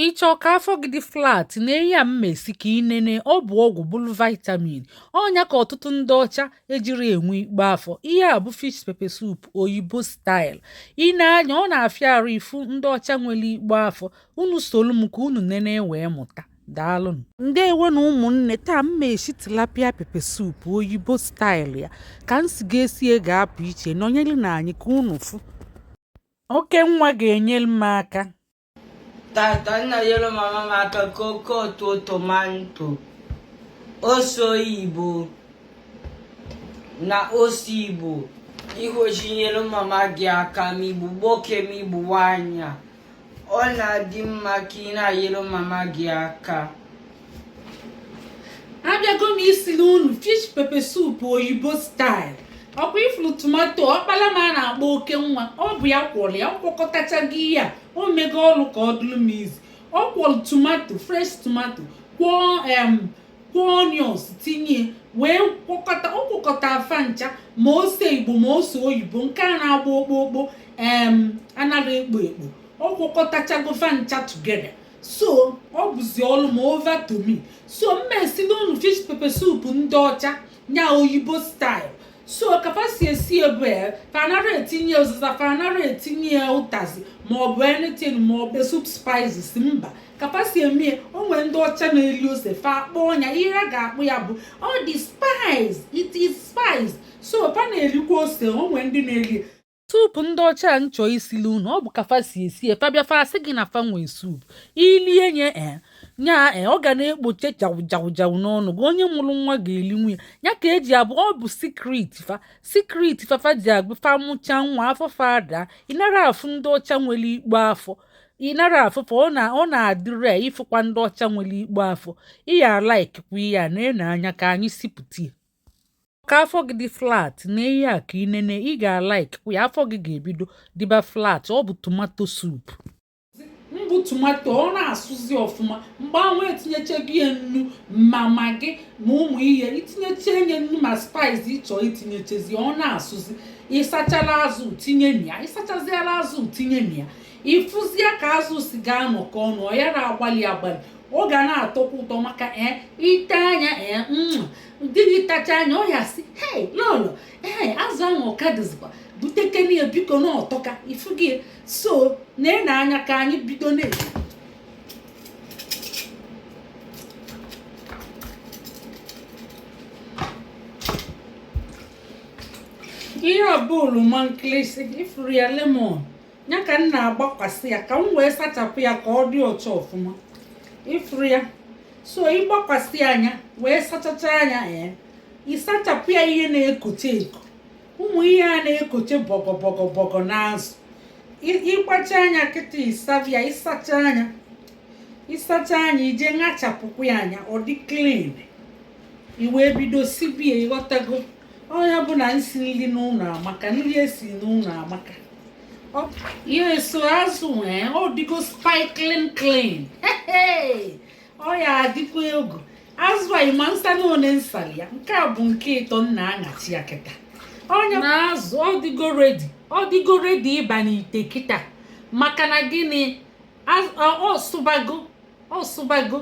ị chọ ka afọ gị dị flat nee ihe m ma esi ka ị nene ọ bụ ọgwụ bụlụ vitamin ọ nya ka ọtụtụ ndị ọcha ejirọ enwe ikpo afọ ihe a bụ fish pepper soup oyibo style i nee anya ọ na-afịa arụ ịfụ ndị ọcha nwere ikpo afọ unu solu m ka unu nene wee mụta daalụnụ ndewo nụ ụmụnne taa m ma esi tilapia pepper soup oyibo style ya ka m si ga-esie ga-apụ iche nọnyerenụ anyị ka unu fụ oke nwa ga-enyere m aka Taata m na-enyelu mama m aka kwọkọta tomato. Ose oyibo na ose Igbo. I kwesị inyelu mama gị aka ma ị bụ nwoke ma ị bụ nwaanyị. Ọ na-adị mma ka ị na-enyelu mama gị aka. abịago m isili unu fish pepe soup oyibo style ọ kwa ị fụrụ tomato ọkpala m a na-akpọ oke nwa ọ bụ ya kwọrọ ya ọ kwọkọtachago ya o mego ọrụ ka ọ dụrụ m izi ọ kwọrọ tomato fresh tomato kwọọ em kwọọ onions tinye wee kwọkọta ọ kwọkọta fa ncha ma ose igbo ma ose oyibo nke a na-agba okpokpo em anarọ ekpo ekpo ọ kwọkọtachago fa ncha together so ọ bụzi ọlụ m a over to me so m ma esili unu fish pepe soup ndị ọcha nya oyibo style so ka fa si esi ebe ya fa anarọ etinye ụzịza fa anarọ etinye ya ụtazi ma ọ bụ anything ma ọ bụ soup spices mba ka fa si eme ya o nwere ndị ọcha na-eli ose fa akpọọ nya ihe a ga-akpọ ya bụ ọ dị spicy it is spicy so fa na-elikwa ose o nwere ndị na-eli soup ndị ọcha a m chọ isili unu ọ bụ ka fa si esie fa bịa fa asị gị na fa nwee soup i lie nya e ọ ga na-ekpoche jawụjawụjawụ n'ọnụ gị onye mụrụ nwa ga-elinwu ya ya ka eji abụ ọ bụ secret fa secret fa fa ji abụ fa mụcha nwa afọ fa adaa ị narọ afụ ndị ọcha nwere ikpo afọ ị narọ afụ fa ọ na-adị rare ịfụkwa ndị ọcha nwere ikpo afọ ị ya-alaikikwa ya na-ene anya ka anyị sipụta ya ka afọ gị dị flat nee ihe a ka ị nene ị ga-alaiki ya afọ gị ga-ebido dịba flat ọ bụ tomato soup mbụ tomato ọ na-asụzi ọfụma mgbe anwa i tinyechago ya nnu ma maggi ma ụmụ ihe i tinyecha nya nnu ma spice ị chọ i tinyechazi ọ na-asụzi ị sachala azụ tinye na ya ị sachaziala azụ tinye na ya ị fụzie ka azụ si ga-anọkọ ọnụ ọ yarọ agbali agbali ọ ga na-atọkwa ụtọ maka ee ị taa nya ee mm. di gị tachaa nya ọ ya-asị hei lọlọ ee azụ ahụ ọ ka dịzikwa butekene ya biko na ọ tọka ị fụgo so na-ene anya ka anyị bido na ihe a bụ oloma nkịlịsị ị fụrụ ya lemon ya ka m na-agbakwasị ya ka m wee sachapụ ya ka ọ dị ọcha ọfụma ị fụrụ ya so ị gbakwasịa nya wee sachachaa nya ee ị sachapụ ya ihe na-ekoche eko ụmụ ihe a na-ekoche bọgọbọgọbọgọ n'azụ ị kpachaa nya kịta ị sabịa ị sachaa nya ị sachaa nya i je ṅachapụkwaa nya ọ dị clean i wee bido sibie ị ghọtago ọ nya bụ na nsi nri n'ụlọ amaka nri esi n'ụlọ amaka yes so azụ ee ọ dịgo sparkling clean ọ ya-adịkwa egwu azụ a ị ma nsa na one m salị ya nke a bụ nke ịtọ m na-aṅacha ya kịta ọ nya na azụ ọ dịgo ready ọ dịgo ready ịba n'ite kịta maka na gịnị ọ sụbago ọ sụbago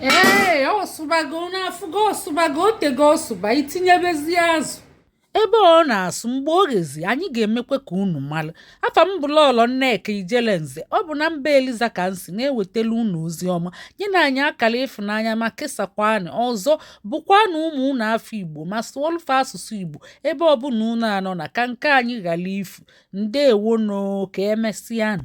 ee ọ sụbago unu afụgo ọ sụbago o tego ọ sụba i tinyebezi azụ ebe ọ na-asụ mgbe o ghezi anyị ga-emekwa ka unu mara afa m bụ lọlọ nneka ijele nze ọ bụ na mba eliza ka m si na-ewetala unu ozi ọma nyenụ anyị akara ịfụnanya ma kesakwanụ ọzọ gụkwanụ ụmụ unu afa igbo ma sụọlụ fa asụsụ igbo ebe ọbụla unu anọna ka nke anyị ghara ifu Ndeewonụ, ka e mesịanụ.